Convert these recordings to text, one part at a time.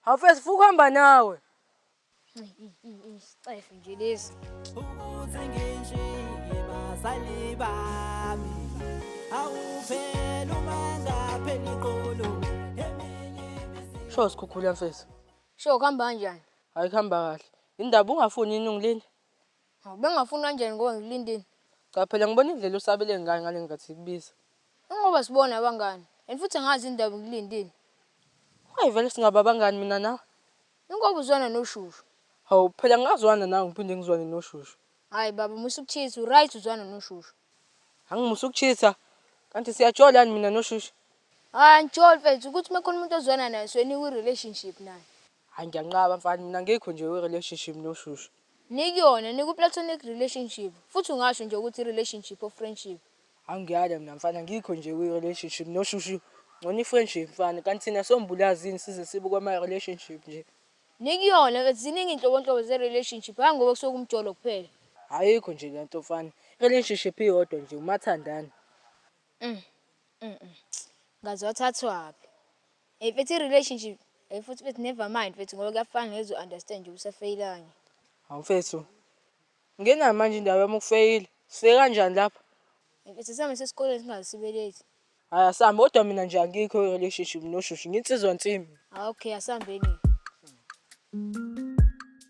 Hafesi futhi uhamba nawe. Isicefe nje lesi. Ukuze nginjike bazali bami. Awuphela uma ngaphela iqolo. Sho sikhukhula mfethu. Sho kuhamba kanjani? Hayi kuhamba kahle. Indaba ungafuni inungu leni? Hawu, bengafuni kanjani ngoba ngikulindile. Cha phela ngibona indlela usabele ngayo ngale nkathi sikubiza. Ingoba sibona abangani. And futhi angazi indaba ngikulindile. Hayi vele singaba abangani mina nawe. Ingoba uzwana noshushu. Hawu, phela ngingazwana nawe ngiphinde ngizwane noshushu. Hayi baba, musa ukuchitha, uright uzwana noshushu. Angimusa ukuchitha. Kanti siyajola yini mina noshushu? Hayi angijoli mfethu, ukuthi uma kukhona umuntu ozwana naye soyinikwa i-relationship naye. Hayi ngiyanqaba mfana mina ngikho nje we relationship noshushu. Nikuyona niku platonic relationship futhi ungasho nje ukuthi relationship of friendship. Angiyale mina mfana ngikho nje kwi relationship noshushu. Ngcono i friendship mfana kanti thina sombulazini size sibe kwama relationship nje. Nikuyona ke ziningi inhlobonhlobo ze relationship hayi ngoba kusuke kumjolo kuphela. Ayikho nje lento mfana. Relationship iyodwa nje umathandana. Ngaze wathathwaphi. Hey mfethu i-relationship hey futhi mfethu never mind mfethu ngoba kuyafana ngeze u-understand nje usafeyilanye. Hawu mfethu. Ngena manje indawo yami ukufeyila. Sifike kanjani lapha? Hey mfethu same sesikoleni singaze sibe late. Hayi asambe kodwa mina nje angikho i-relationship noshushi nginsizwa nsimbi. Ah okay asambeni.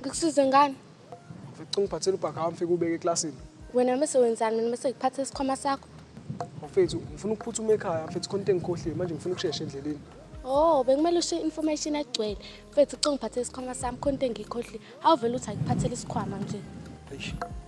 Ngikusize ngani? Ngicela ungiphathele ubhaka wami fike ubeke eklasini. Wena mese wenzani mina mese ngiphathe isikhwama sakho? Mfethu, ngifuna ukuphuthuma ekhaya mfethu khona into engikhohliwe manje ngifuna ukushesha endleleni. Oh, bekumele ushiye information egcwele. Mfethu, cela ungiphathele isikhwama sami khona into engiyikhohliwe. Awuvele uthi akuphathele isikhwama nje. Eish.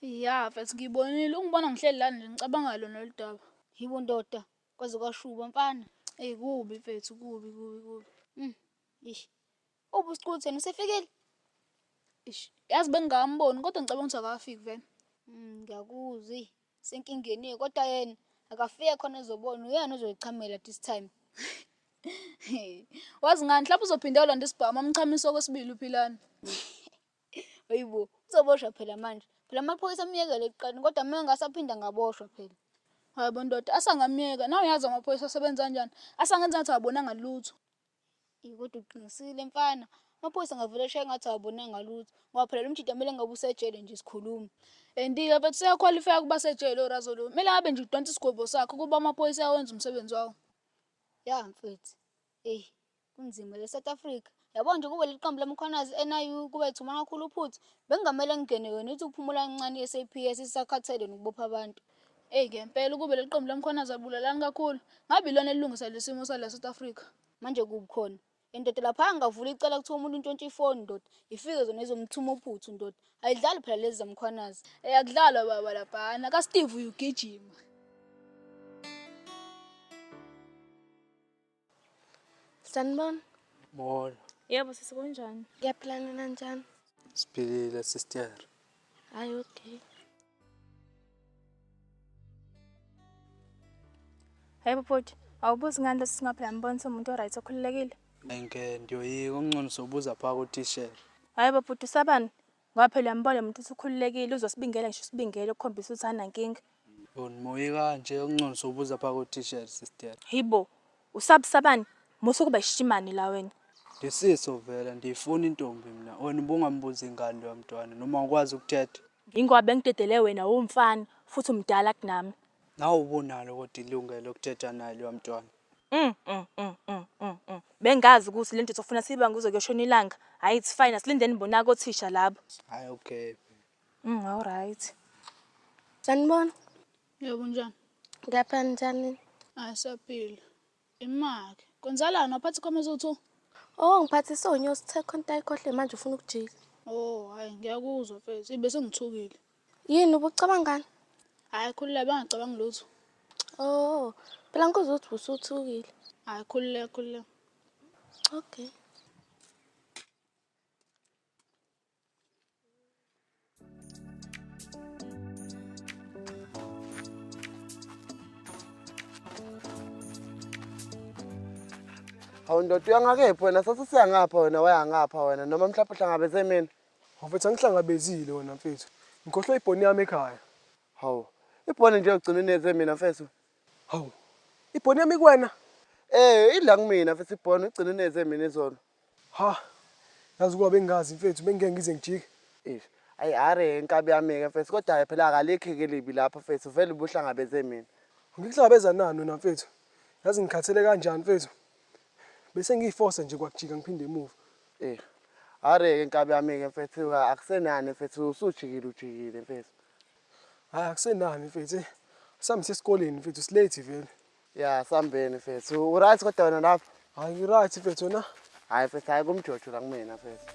Ya mfethu ngibonile ungibona ngihleli lana nje ngicabanga lona lolu daba. Yibo ndoda kwaze kwashuba mfana. Eyi kubi mfethu kubi kubi kubi. Mm. Ish. Ubu usiquthe usefikile? Ish. Yazi bengingamboni kodwa ngicabanga ukuthi akafiki vele. Mm ngiyakuzwa. Senkingeni kodwa yena akafike khona ezobona uyena ozoyichamela this time. Wazi ngani mhlawumbe uzophinde yolanda isibhamu amchamisa okwesibili uphilana. Hayi bo, uzoboshwa phela manje. Phela amaphoyisa amyekele ekuqaleni kodwa uma engasaphinda ngaboshwa phela. Hayi bo ndoda, asangamyeka. Nawe uyazi amaphoyisa asebenza kanjani. Asangenza ngathi awabonanga lutho. Eyi kodwa uqinisile mfana. Amaphoyisa angavele eshaye ngathi awabonanga lutho. Ngoba phela lo mjita kumele ngabe usejele nje sikhuluma. Endiya mfethu seyakhwalifaya ukuba sejele orazo lo. Kumele ngabe nje udonsa isigwebo sakhe ukuba amaphoyisa awenza umsebenzi wawo. Ya mfethu. Eyi kunzima le South Africa. Yabo nje kube leli qembu laMkhwanazi NIU kube ethumana kakhulu uphuthu. Bekungamele ngingene wena uthi uphumula kancane i-SAPS isakhathele nokubopha abantu. Eyi ngempela ukube leli qembu laMkhwanazi abulalani kakhulu. Ngabe ilona elilungisa lesi simo sala South Africa. Manje kubi khona. Endoda laphaya ngavula icala kuthiwa umuntu untshontsha ifoni ndoda. Ifike zona izomthuma uphuthu ndoda. Ayidlali phela lezi zaMkhwanazi. Eyi akudlalwa baba laphana. KaSteve uyugijima. Sanibona. Molo. Yebo sisi kunjani? Ngiyaphila nina njani? Siphilile sister. Hayi okay. Hayi bhuti, awubuzi ngani lesi singaphela ngibona somuntu oright okhululekile. Ngeke ndiyoyika okungcono sobuza phaa kotishela. Hayi bhuti usabani? Ngoba phela uyambona lo muntu ukuthi ukhululekile uzosibingela ngisho usibingele ukukhombisa ukuthi anankinga. Yona moya kanje uncongisa ubuza pha ko t-shirt sister. Hibo, usabusabani? Musa ukuba ishimane la wena. Lisiso vela ndiyifuna intombi mina. Wena ubungambuzi ingane loya mntwana noma ukwazi ukuthetha. Ngingoba bengidedele wena uwumfana futhi umdala kunami. Nawe ubunalo kodwa ilungelo lokuthetha naye loya mntwana. Mm, mm, mm, mm, mm, mm. Bengazi ukuthi lento sofuna siyibange kuze kuyoshona ilanga. Hayi it's fine, asilindeni bonake othisha labo. Hayi okay. Mm, all right. Sanibona. Yebo njani? Ngiyapha njani? Hayi saphila. Imake. Kwenzalani waphatha ikhoma ezothu? Oh, ngiphathe sonyo sithe khonta ikhohle manje ufuna ukujika. Oh, hayi ngiyakuzwa mfethu. Ibe sengithukile. Yini ubucabangani? Hayi khululeka bangacabangi lutho. Oh, phela ngikuzwa ukuthi usuthukile. Hayi khululeka khululeka. Okay. Hawu ndoda uyangakephi wena sasisiyangapha wena wayangapha wena noma mhlawumbe uhlangabeze mina. Mfethu angihlangabezile wena mfethu. Ngikhohlwe ibhoni yami ekhaya. Hawu. Ibhoni nje ugcina uneze mina mfethu. Hawu. Ibhoni yami kuwena? Eh, idla kumina mfethu ibhoni ugcina uneze mina izolo. Ha. Yazi kwabe ngingazi mfethu bengike ngize ngijike. Eish. Ayi are inkabi yami ke mfethu kodwa phela akalikhi ke libi lapho mfethu vele ubuhlangabeze mina. Ngikuhlangabeza nani wena mfethu? Yazi ngikhathele kanjani mfethu? Bese ngiyifosa nje kwakujika ngiphinde emuva. Eh. Are-ke nkabi yami-ke mfethu ka- akusenani mfethu usujikile ujikile mfethu. Hayi akusenani mfethu. eh. Sami sesikoleni mfethu silate vele. Ya sambeni mfethu. Uright kodwa wena lapho? Hayi ngi-right mfethu wena. Hayi mfethu hayi kumjojo la kumina mfethu.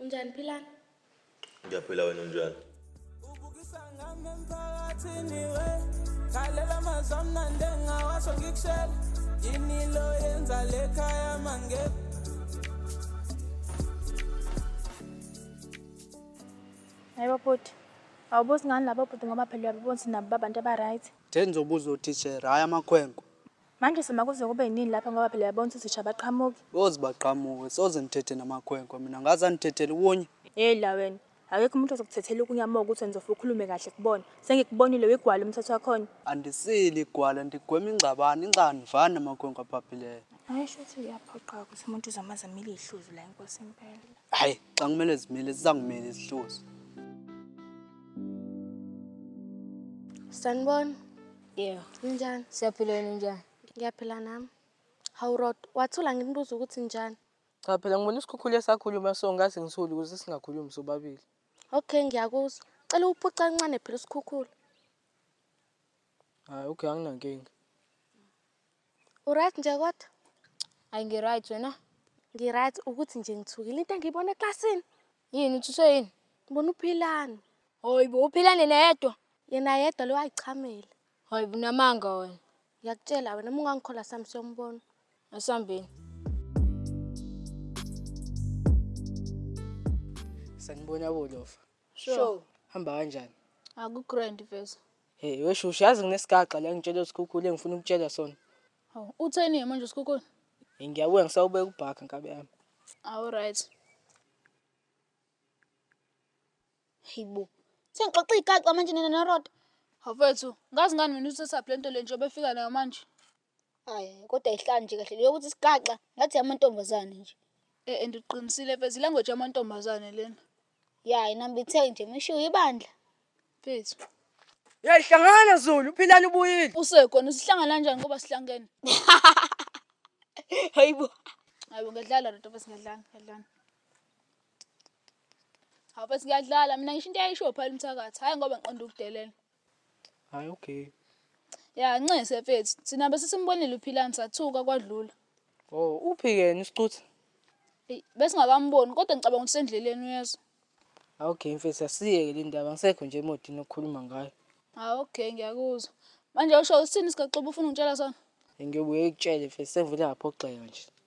Unjani Philani? Ngiyaphila wena unjani? Ubukisa ngami emphakathini we. Khalela amazwi amnandi engingawasho ngikushela. Yini lo yenza le khaya mangebe. Hayibo bhuti. Awubuzi ngani labo bhuti ngoba phela uyababona ukuthi nabo babantu aba-right. Thenza ubuza utishera, hhayi amakhwenkwe. Manje sima kuze kube yinini lapha ngoba phela yabona ukuthi sisha baqhamuki. Bozi baqhamuke soze ngithethe namakhwenkwe mina ngaze anithethele kunye. Hey la wena. Akekho umuntu ozokuthethela ukunya uma ukuthi wena uzofa ukhulume kahle kubona. Sengikubonile wegwala umthetho wakhona. Andisili igwala ndigwema ingxabano inxa nivani namakhwenkwe aphaphileyo. Hayi shuthi uyaphoqa ukuthi umuntu uzomazi amile ihluzu la inkosi impela. Hayi xa kumele zimile zizangimile izihluzu. Sanibona. Yebo. Ninjani? Siyaphila wena unjani? Ngiyaphila nami. Hawu Rod, wathula nginibuza ukuthi njani? Cha phela ngibona isikhukhula esakhuluma so ngathi ngithule ukuze singakhulumi sobabili. Okay, ngiyakuzwa. Cela uphuca kancane phela usikhukhula. Hayi okay anginankinga. Uright nje kodwa? Ayi ngiright wena? Ngiright ukuthi nje ngithukile into engiyibona eklasini. Yini uthuswe yini? Ngibona uphilani. Hoyibo uphilane neyedwa. Yena yedwa lo ayichamele. Hoyibo unamanga wena. Ngiyakutshela wena uma ungangikhola sami siyombona. Asambeni. Sanibona bolofa. Sure. Hamba kanjani? Aku grand vese. Hey, wesho uyazi nginesigaxa la ngitshela usikhukhule ngifuna ukutshela sona. Hawu, utheni manje uSkhukhuni? Ngiyabuya ngisawubeka ubhaka nkabi yami. Awu right. Hayibo. Sengixoxa igaxa manje nina noRoda. Hafethu, ngazi ngani mina usetup le nto le nje obefika nayo manje. Hayi, kodwa ihlani nje kahle leyo ukuthi sigaxa ngathi amantombazane nje. Eh and uqinisile mfethu, ilanguage yamantombazane lena. Ya inambitheke nje mishiwo ibandla. Mfethu. Hey hlangana Zulu, philani ubuyile. Usekhona sihlangana kanjani ngoba sihlangene? Hayibo. Hayibo ngiyadlala lento bese ngiyadlala, ngiyadlala. Hawu bese ngiyadlala mina ngisho into eyayisho phela umthakathi. Hayi ngoba ngiqonda ukudelela. Hayi okay. Ya nxese mfethu, thina bese simbonile uphilani sathuka kwadlula. Oh, uphi yena isicutha? Eyi, besingakamboni kodwa ngicabanga ukuthi sendleleni uyezwa. Hayi okay mfethu asiyeke le ndaba ngisekho nje emotini okukhuluma ngayo. Ah okay ngiyakuzwa. Manje usho usithini sikaXuba ufuna ungitshela sona? Ngiyobuye ngikutshele mfethu sengivele ngaphoxeka nje.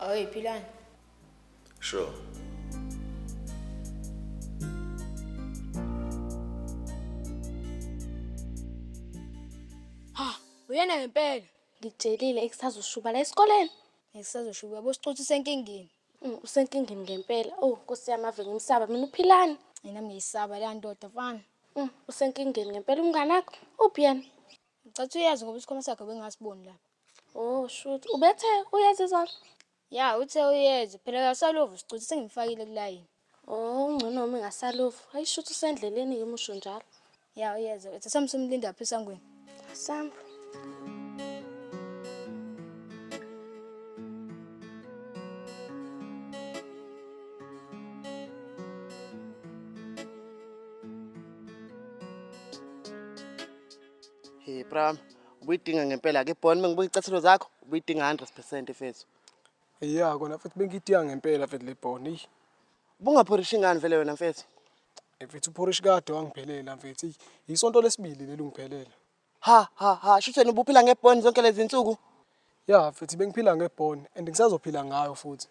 Oy philani. Sure. Ha, uyena ngempela. Ngitshelile ekusazoshuba la esikoleni. Ngisazoshuba yabo sicothi senkingeni. Mm, Usenkingeni ngempela. Oh, Nkosi yami ave ngimsaba mina uphilani. Mina ngiyisaba le ndoda mfana. Mm, Usenkingeni ngempela umngane wakho. Uphi yena? Ngicatha uyazi ngoba isikhwama sakhe bengasiboni lapha. Oh shoot, ubethe uyeza izolo? Ya, uthe uyeza, phela kasaluvu sicuthe sengimfakile kulayini. Oh, ngcono uma engasaluvu. Hayi shoot usendleleni ke musho njalo. Ya, uyeza, uthe sami simlinda phi esangweni. Samba. Hey, Pram, Ubuyidinga ngempela ke Bon mengibuka icathelo zakho ubuyidinga 100% mfethu. Ya kona mfethu bengidinga ngempela mfethu le Bon. Eyi Bungaphorishi ngani vele wena mfethu? eh, mfethu uphorishi kade wangiphelela mfethu. Eyi, Yisonto lesibili leli ungiphelela. Ha ha ha shutheni ubuphila ngeBon zonke lezi nsuku. Ya mfethu bengiphila ngebhoni and ngisazophila ngayo futhi.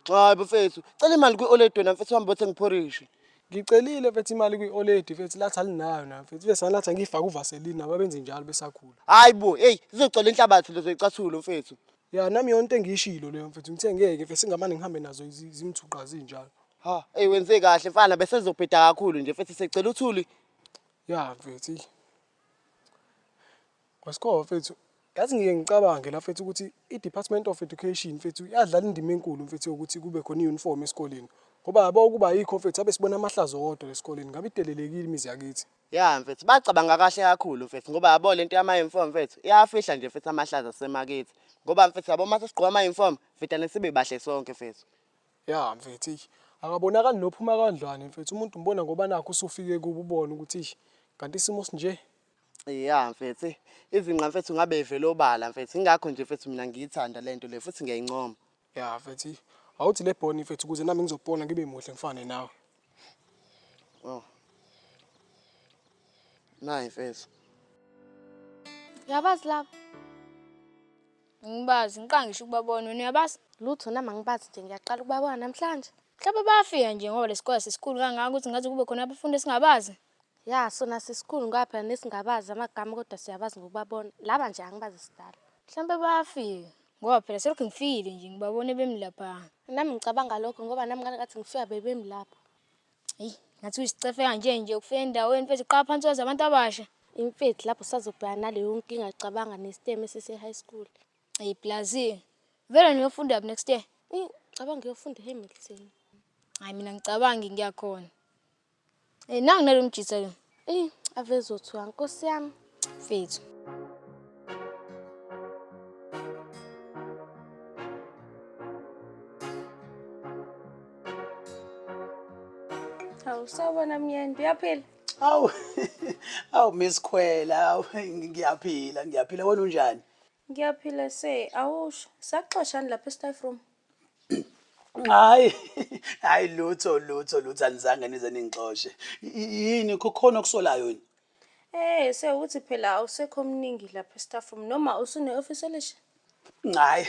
Cha bafethu, cela imali kwi-oledi wena mfethu uhambe othenga iphorishi. Ngicelile mfethu imali kwi-oledi mfethu lathi alinayo nayo mfethu ibe sanalathi angiyifake uvaseline nabo abenze njalo besakhula. Hayi bo, hey zizogcwala inhlabathi lezo icathulo mfethu. Ya nami yonke into engiyishilo leyo mfethu ngithe ngeke mfethu singamane ngihambe nazo zi- zimthuqa zinjalo. Ha, hey wenze kahle mfana bese zobheda kakhulu nje mfethu secela uthuli. Ya mfethu. eyi. Wesikhowa mfethu, yazi ngike ngicabange la mfethu ukuthi i-Department of Education mfethu yadlala indima enkulu mfethu yokuthi kube khona i-uniform esikoleni. Ngoba yabo ukuba ayikho mfethu abe sibona amahlazo wodwa lesikoleni ngabe idelelekile imizi yakithi. Ya mfethu, bacabanga kahle kakhulu mfethu ngoba yabo lento yama-uniform mfethu iyawafihla nje mfethu amahlazo asemakithi. Ngoba mfethu yabo uma sesigqoka ama-uniform vedane sibe bahle sonke mfethu. Ya mfethu, eish akabonakali nophuma kandlwane mfethu umuntu umbona ngoba nakhu usufike kubo ubone ukuthi eish kanti isimo sinje. Ya mfethu, eh, izinqa mfethu ngabe ivele obala mfethu. Ingakho nje mfethu mina ngiyithanda le nto le futhi ngiyayincoma. Ya mfethu, eh, awuthi le boni mfethu ukuze nami ngizopona ngibe muhle ngifane nawe. Oh. Nayi mfethu. Uyabazi laba? Ngibazi, ngiqala ngisho ukubabona. Wena uyabazi? Lutho nami angibazi nje ngiyaqala ukubabona namhlanje. Mhlawumbe bayafika nje ngoba lesikole sesikhulu kangaka ukuthi ngaze kube khona abafundi esingabazi. Ya sona sisikhulu ngoba phela nesingabazi amagama kodwa siyabazi ngokubabona. Laba nje angibazi sidala. Mhlawumbe bayafika ngoba phela selokhu ngifikile nje ngibabone bemi lapha. Nami ngicabanga lokho ngoba nami ngalikathi ngifika bebemi lapha. Eyi ngathi uyisicefe kanje nje ukufika endaweni mfethu qala phansi wazi abantu abasha. Imfethu lapho sazobhekana naleyo nkinga cabanga nesitemu esise-high school. Eyi plazi vele niyofunda phi next year? Eyi ngicabanga uyofunda eHamilton. Hhayi mina ngicabangi ngiyakhona. Eh nangu nalo mjitha ke. Eh avezothiwa nkosi yami. Fethu. Hawu sawubona myeni uyaphila? Awu awu Miss Khwela awu ngiyaphila ngiyaphila wena unjani? Ngiyaphila se awusho saxoshani lapha e-staff room? Hayi, hayi lutho lutho lutho anizange nize ningixoshe. Y- Yini kukhona okusolayo yini? Eh, sewuthi phela awusekho omningi lapha estaff room noma usune office elisha? Hayi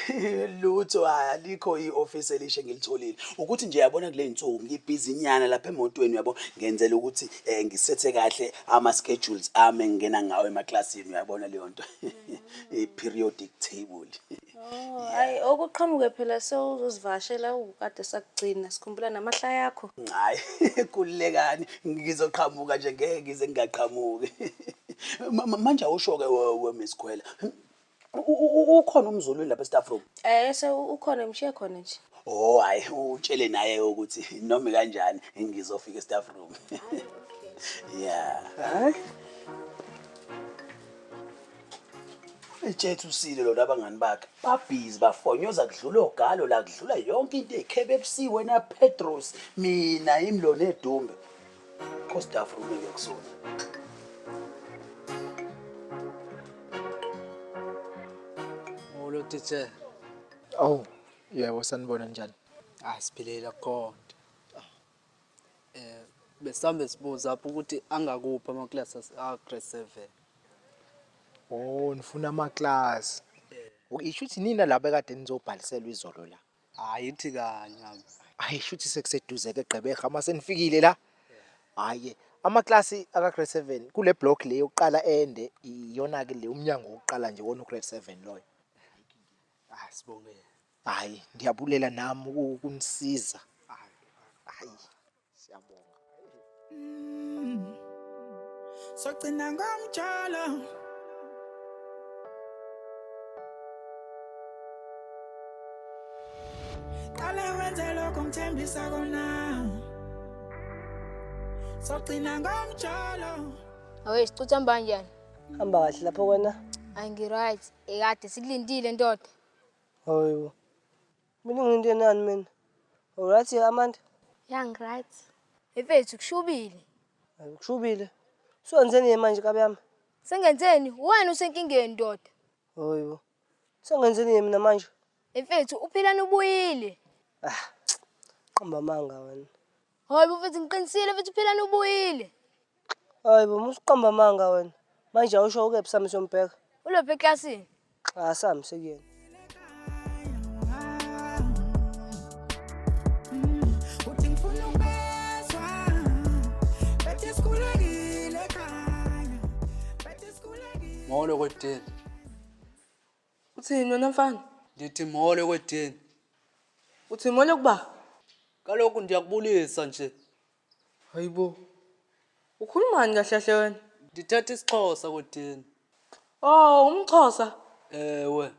lutho hayi alikho i-office elisha engilitholile. Ukuthi nje yabona kule nsuku ngibhizi nyana lapha emotweni uyabo ngenzela ukuthi eh, ngisethe kahle ama-schedules ami engingena ngawo emaklasini uyabona leyo nto. I-periodic table. Oh, hayi okuqhamuke phela sewuzozivakashela ukade sakugcina sikhumbula namahlaya yakho. Hayi, kulekani ngizoqhamuka nje ngeke ngize ngingaqhamuki. Ma- ma- Manje awusho-ke we- we Miss Khwela. U- u- u- Ukhona umzulu lapha e-staff room. Eh se ukhona mshiye khona nje. Oh hayi utshele naye ukuthi noma kanjani ngizofika e-staff room. Yeah. Hayi. Etshethe usile lona abangani bakhe babhizi bafonyoza kudlula ogalo la kudlula yonke into ekhebe ebusiwe na Petros mina imlona edumbe kosdafu rume ngiyakusona Molo teacher. Awu, yebo sanibona njani? Ah siphilile akukhona. Eh besambe sibuza apho ukuthi angakuphi ama class a grade 7. Oh nifuna ama class. Isho ukuthi nina laba kade nizobhaliselwa izolo la. Hayi ithi kanye abi. Hayi shuthi sekuseduze ke Gqeberha uma senifikile la. Hayi ama class aka grade 7 kule block le yokuqala ende iyona ke le umnyango wokuqala nje wona u grade 7 loyo. Asibonge. Hayi, ndiyabulela nam ukunisiza. Hayi, siyabonga. Sogcina ngomjolo. Qale wenze lokho ngithembisa kona. Sogcina ngomjolo. Aweshe cutha mbanjani? Hamba kahle lapho wena. Angi-right. Ekade sikulindile ndoda. Hayibo. Mina ngiyinto enani mina. Alright ya Amanda. Yeah, ngright. Efethu kushubile. Hayi kushubile. Senzeni yena manje kabi yami? Sengenzeni? Wena usenkingeni ndoda. Hayibo. Sengenzeni yena mina manje? Efethu uphilani ubuyile. Ah. Qamba amanga wena. Hayi bafethu ngiqinisile futhi phela nubuyile. Hayi bo musiqamba amanga wena. Manje awusho ukephi sami sombheka. Ulophi eklasini? Cha sami sekuyena. Molo kwetini. Uthini wena mfana? Ndithi molo kwedini. Uthi molo kuba? Kaloku ndiyakubulisa nje. Hayibo. Ukhulumani kahle kahle wena? Ndithetha isiXhosa kwedini. Oh, umxhosa. Ewe,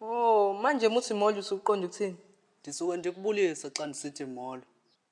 Oh, manje muthi molo usuqonda ukuthini? ndisuke ndikubulisa xa ndisithi molo.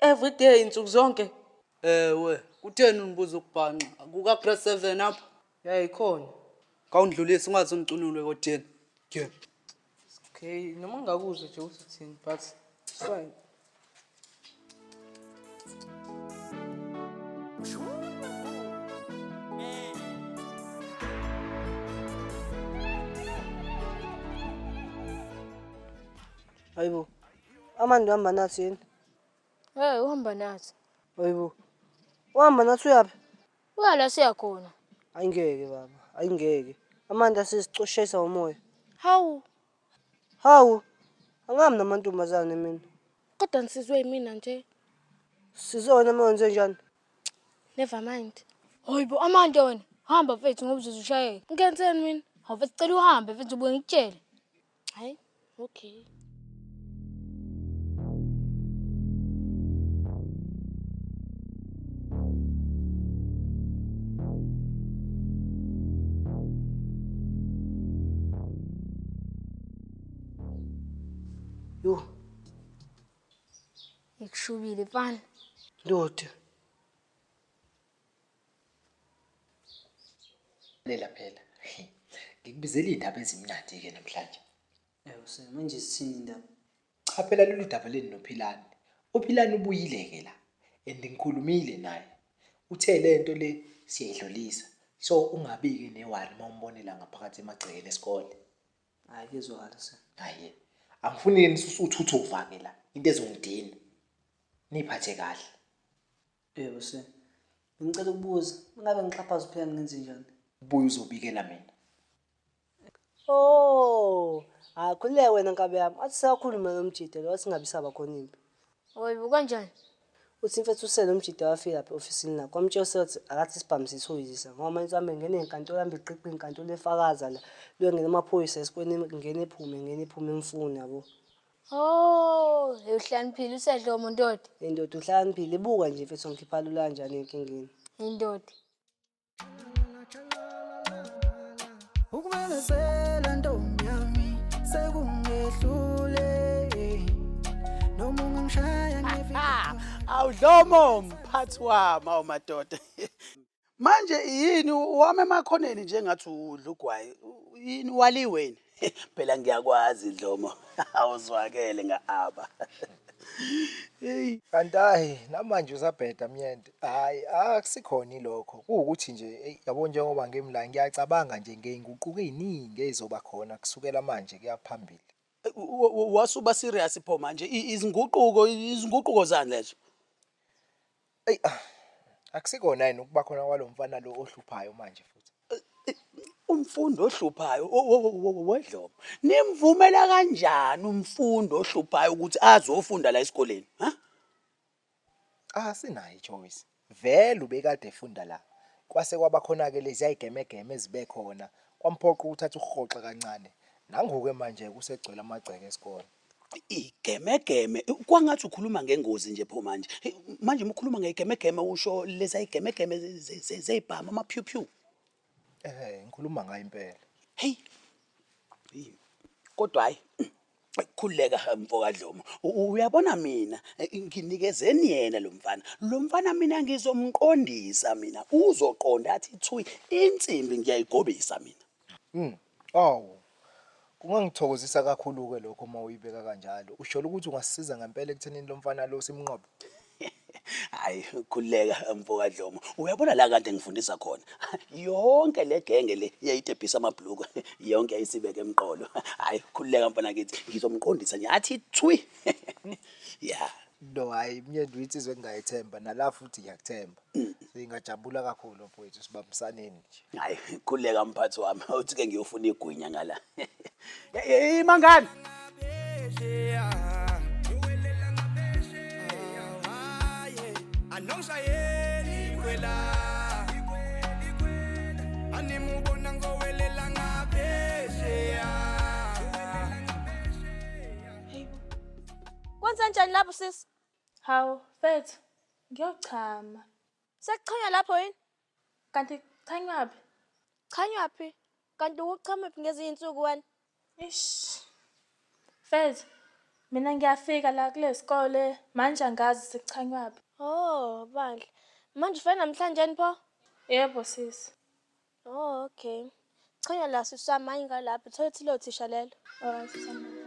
Every day nsuku zonke. Ewe, kutheni unibuza ukubhanxa? Kuka press 7 apho. Ya ikhona. Kawundlulisi ungaze ungicunulwe kotheni. Ke. Okay, noma ngakuzwe nje ukuthi uthini but it's fine. Hayibo. Amandi uhamba nathi yini? Hey, uhamba nathi. Hayibo. Uhamba nathi uyaphi? Uya la siya khona. Ayingeke baba, ayingeke. Amanda sesicoshayisa umoya. Hawu, Hawu. Angami namantombazane mina. kodwa nisizwe yimina nje. Sizona uma wenze njani? Never mind. Hayibo amande wena. Hamba mfethu ngoba uzoze ushayeke. Ngenzeni mina? Hawu mfethu cela uhambe mfethu ubuye ngikutshele. Hayi, okay. Yho, Ngikushubile mfana. ndoda. Lela phela. Ngikubizela indaba ezimnandi ke namhlanje. Ewu se manje sithini indaba? Cha phela lolu daba leni noPhilani. UPhilani ubuyile ke la and ngikhulumile naye. Uthe lento le siyayidlulisa. So ungabi ke newari uma umbonela ngaphakathi emagcekeni esikole. Hayi kuzwakala se. Hayi. Angifuni ke nisusuthuthuva ke la. Into ezongidina. Niphathe kahle. Bheka use. Ngicela ukubuza, ungabe ngixhaphaza uphela ngenze njani? Buya uzobikela mina. Oh, akhuleke wena nkabi yami. Athi sakhuluma nomjida lo singabi saba khona impi. Oyibo kanjani? Uthi mfethu usele umjida wafika lapha ofisini lakho. Wamtshela usele ukuthi akathi isibhamu sithoyizisa. Ngoba manje uhambe ngene enkantolo hambe eqiqa inkantolo efakaza la. Luyongena amaphoyisa esikweni ngene ephume ngene ephume emfuni yabo. Oh, uhlaniphile usedlomo ndoda. Indoda uhlaniphile ibuka nje mfethu ngikhipha lula kanjani enkingeni. Indoda. ukumemezela ntombi yami sekungehlule noma ungangishaya ngevika Awudlomo mphathi wami awumadoda. Manje yini wami emakhoneni njengathi udla ugwayi yini waliweni phela ngiyakwazi Dlomo awuzwakele ngaaba hey kanti hayi namanje usabheda myende hayi akusikhona ilokho kuwukuthi nje yabo njengoba ngimla ngiyacabanga nje ngeyinguquko eziningi ezizoba khona kusukela manje kuyaphambili wasuba serious pho manje izinguquko izinguquko zani lezo Eyi ah, akusikona yini ukuba khona kwalo mfana lo ohluphayo manje futhi. Umfundi ohluphayo o- o- o- o- wedlomo. Nimvumela kanjani umfundi ohluphayo ukuthi azofunda la esikoleni? Ha? Cha sinayo ichoice. Vele ubekade efunda la. Kwase kwaba khona ke lezi ayigemegeme ezibe khona. Kwamphoqa ukuthatha uhoxa kancane. Nangoke manje kusegcwele amagceke esikole. Igemegeme kwangathi ukhuluma ngengozi nje pho manje. Manje uma ukhuluma ngegemegeme usho leza igemegeme zezibhamu ama phew phew. Eh ngikhuluma ngayo impela. Hey. Kodwa hayi khuleka mfokadlomo uyabona mina nginikezeni yena lo mfana lo mfana mina ngizomqondisa mina uzoqonda athi thui insimbi ngiyayigobisa mina mm. Awu. Kungangithokozisa kakhulu ke lokho uma uyibeka kanjalo. Ushola ukuthi ungasisiza ngempela ekuthenini lo mfana lo simnqobe. Hayi khuleka mfokadlomo. Uyabona la kade ngifundisa khona. Yonke le genge le yayitebhisa amabhluku. Yonke yayisibeke emqolo. Hayi khuleka mfana kithi ngizomqondisa nje athi thwi. Yeah. No hayi myeni withi izwe ngingayethemba nala futhi ngiyakuthemba. Singajabula kakhulu mfowethu sibambisaneni nje. Hayi khuleka mphathi wami uthi ke ngiyofuna igwinya ngala. Hey mangani. Anomshayeli kwela Animubona ngowelela ngaphesheya Kwenzenjani lapho sisi? Hawu, mfethu, ngiyochama. Sekuchanywa lapho yini? Kanti kuchanywaphi? Chanywaphi? Kanti ukuchamaphi ngezinye insuku wena? Ish. Mfethu, mina ngiyafika la kule sikole manje angazi sekuchanywaphi. Oh, bandla. Manje ufike namhlanje yini pho? Yebo sisi. Oh, okay. Chanya la sisama ingalapha. Thola ukuthi lo thisha lelo. Alright sisama.